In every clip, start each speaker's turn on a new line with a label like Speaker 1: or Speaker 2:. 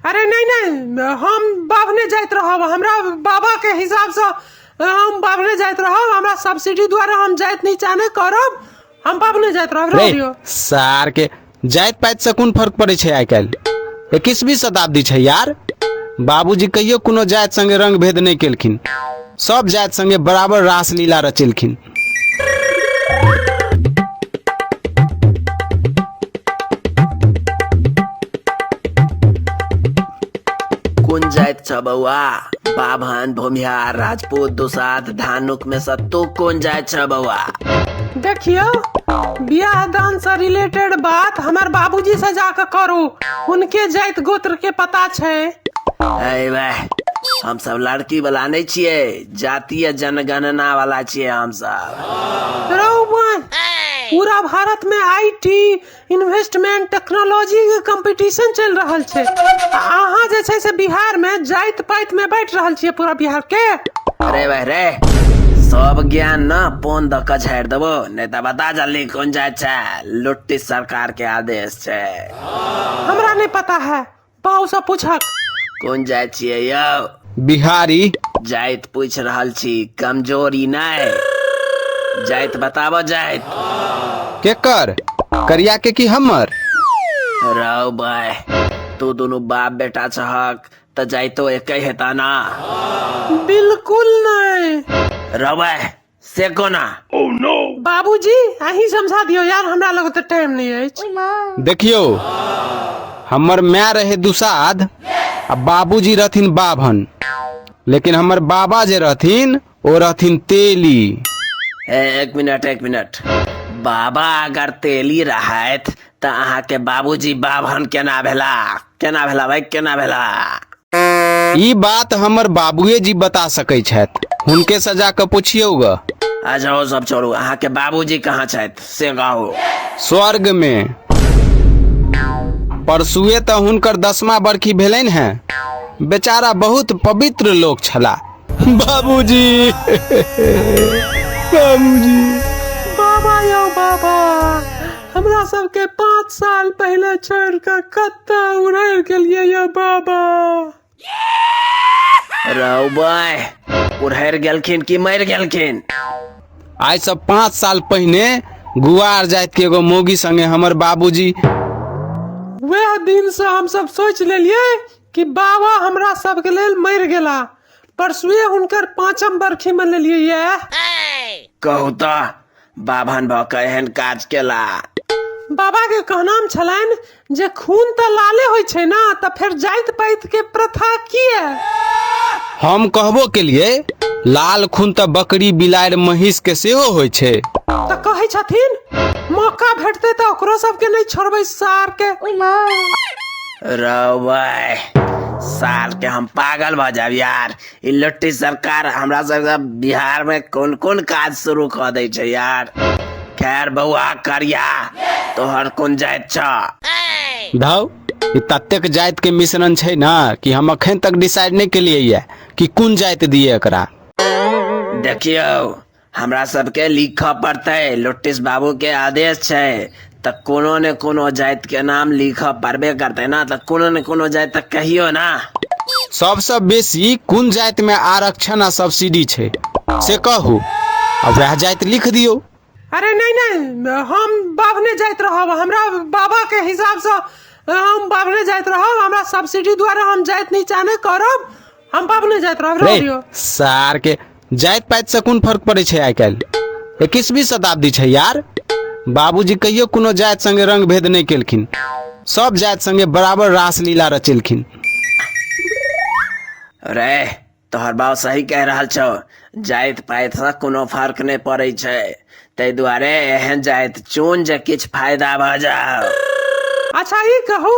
Speaker 1: अरे नहीं नहीं हम बाबने जात रहब हमरा बाबा के हिसाब से हम बाबने जात रहब हमरा सब्सिडी द्वारा हम जात नहीं चाहने करब हम बाबने जात रहब रह रे दियो सार
Speaker 2: के जाइत पाइत से कोन फर्क पड़े छै आइ काल्हि इक्कीसवीं शताब्दी छै यार बाबूजी कहियो कोनो जाइत संगे रंग भेद नहि केलखिन सभ जाति संगे बराबर रासलीला रचेलखिन
Speaker 3: कुन जाइत छ बौआ बाभन भूमिहार राजपूत दुसाध धानुक में से तू कुन जाइत छ बौआ देखियो
Speaker 1: बियाह दान से रिलेटेड बात हमर बाबूजी से जाके करू उनके जाइत गोत्र के पता छै अरे वाह
Speaker 3: हमसभ लड़की वाला नहि छियै जातीय जनगणना वाला छियै हमसभ रौवन
Speaker 1: पूरा भारत में आईटी इन्वेस्टमेंट टेक्नोलॉजी के कंपटीशन चल रहल छै आ अहाँ जे छै से बिहार में जाइत पाइत में बैठ रहल छियै पूरा बिहार के अरे भाई रे
Speaker 3: सब ज्ञान न पोन द के झाड़ि देबो नहि तऽ बता जल्दी कोन जाय छै लुट्टी सरकार के आदेश छै हमरा
Speaker 1: नहीं पता है पाउसँ पूछक कोन जाइ
Speaker 3: छियै यौ बिहारी
Speaker 2: जाइत पूछि
Speaker 3: रहल छी कमजोरी नहि जाइत बताबऽ जाइत केकर
Speaker 2: करिया के की हमर रौ
Speaker 3: भाय तू दुनू बाप बेटा छहक तऽ जाइतो एके हेता ना
Speaker 1: बिल्कुल नहि रौ भाय
Speaker 3: से कोना बाबूजी
Speaker 1: अहीं समझा दियौ यार हमरा लग तऽ टाइम नहि अछि देखियौ
Speaker 2: हमर माय रहे दुसाध आ बाबूजी रहथिन बाभन लेकिन हमर बाबा जे रहथिन ओ रहथिन तेली एक
Speaker 3: मिनट एक मिनट बाबा अगर तेली रहथि तऽ अहाँके बाबूजी बाभन केना भेला केना भेला भाई केना भेला
Speaker 2: ई बात हमर बाबुए जी बता सकै छथि हुनके से जाकऽ पुछियौ ग अच्छा ओ सब
Speaker 3: छोड़ू अहाँके बाबूजी कहाँ छथि से कहू स्वर्ग मे
Speaker 2: परसुए तऽ हुनकर दसमा बरखी भेलनि हेँ बेचारा बहुत पवित्र लोक छलाह बाबूजी बाबूजी बाबा
Speaker 1: यौ बाबा हमरा सबके पाँच साल पहिले छोड़ कऽ कतऽ उड़ैल गेलियै यौ बाबा
Speaker 3: राव बाय उड़हर गेलखिन कि मर गेलखिन आइ
Speaker 2: से पाँच साल पहिने गुआर जाइत के एगो मौगी संगे हमर बाबूजी
Speaker 1: वएह दिन से हम सब सोच लेलियै कि बाबा हमरा सबके लेल मरि गेला परसुए हुनकर पाँचम बरखी मनेलियै यऽ कहू
Speaker 3: तऽ बाभन भऽ कऽ एहन काज केला बाबा
Speaker 1: के कहनाम छलनि जे खून तऽ लाले होइ छै ने तऽ फेर जाइत पाइत के प्रथा किए
Speaker 2: हम कहबो केलिए लाल खून तऽ बकरी बिलाड़ि महींस के सेहो होइ छै तऽ कहै
Speaker 1: छथिन मौका भेटतै तऽ ओकरो सबके नहि छोड़बै सार के
Speaker 3: रौबे साल के हम पागल भऽ जायब यार ई लुट्टी सरकार हमरा सबके बिहार में कोन कोन काज शुरू कऽ दै छै यार खैर बौआ करिया तोहर कोन जाइत छ धौ
Speaker 2: ई ततेक जाइत के मिश्रण छै ना कि हम अखन तक डिसाइड नहि केलियै ये कि कोन जाइत दिए एकरा
Speaker 3: देखियौ हमरा सभके लिखऽ पड़तै लोटिस बाबूके आदेश छै तऽ कोनो ने कोनो जातिके नाम लिखऽ पड़बे करतै ने तऽ कोनो ने कोनो जाति तऽ कहियो ने सबसँ
Speaker 2: बेसी कोन जातिमे आरक्षण आ सब्सिडी छै से कहू आ वएह जाति लिख दियौ अरे नहीं
Speaker 1: नहीं हम बाभने जाइत रहब हमरा बाबा के हिसाब से हम बाभने जाइत रहब हमरा सब्सिडी द्वारा हम जाइत नीचा नहीं करब हम बाप नहि जाइत रहब रह दियो सार के
Speaker 2: जाइत पाइत से कोन फर्क पड़े छै आइ काल्हि इक्कीसवीं शताब्दी छै यार बाबूजी कहियो कोनो जाति संगे रंग भेद नहि केलखिन सब जाति संगे बराबर रासलीला रचेलखिन
Speaker 3: रे तोहर बाप सही कह रहल छौ जाइत पाइतसँ कोनो फर्क नहि पड़ै छै ताहि दुआरे एहन जाइत चुन जे किछु फायदा भऽ जाओ अच्छा
Speaker 1: ई कहू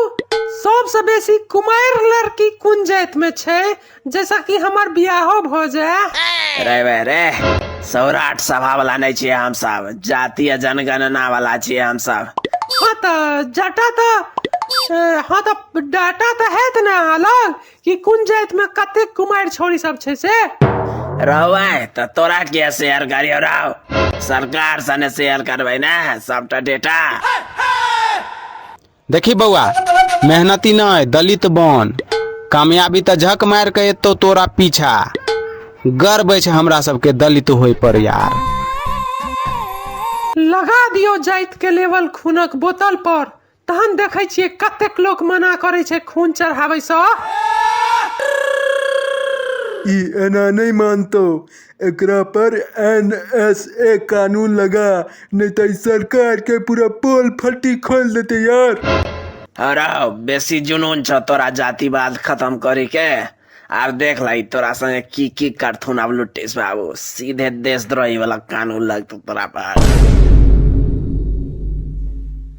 Speaker 1: सबसँ बेसी कुमारि लड़की कोन जातिमे छै जैसा कि हमर बियाहो भऽ जाय रे बे रे
Speaker 3: सौराठ सभा वाला नहि छियै हमसभ जातीय जनगणना वाला छियै हमसभ हँ तऽ
Speaker 1: जटा तऽ अ, हँ तऽ डाटा तऽ हैत ने अलग कि कोन जाइत में कते कुमार छोरी सब छै से रहवाय
Speaker 3: त तोरा के शेयर करियो राव सरकार सने शेयर करबै ने सबटा डेटा
Speaker 2: देखी बौआ मेहनती नहीं दलित बन कामयाबी त झक मार के एतो तोरा पीछा गर्व छै हमरा सबके दलित होय पर यार
Speaker 1: लगा दियो जाइत के लेवल खूनक बोतल पर तहन देखै छियै कतेक लोक मना करै छै खून चढ़ाबैसँ
Speaker 4: ई एना नहि मानतौ एकरा पर एन एस ए कानून लगा नहि तऽ ई सरकार के पूरा पोल फट्टी खोल देते यार अरे
Speaker 3: बेसी जुनून छ तोरा जातिवाद खत्म करे के आब देख लाई तोरा संगे की की करथुन आब लुटिस बाबू सीधे देशद्रोही वाला कानून लगतौ तोरा पर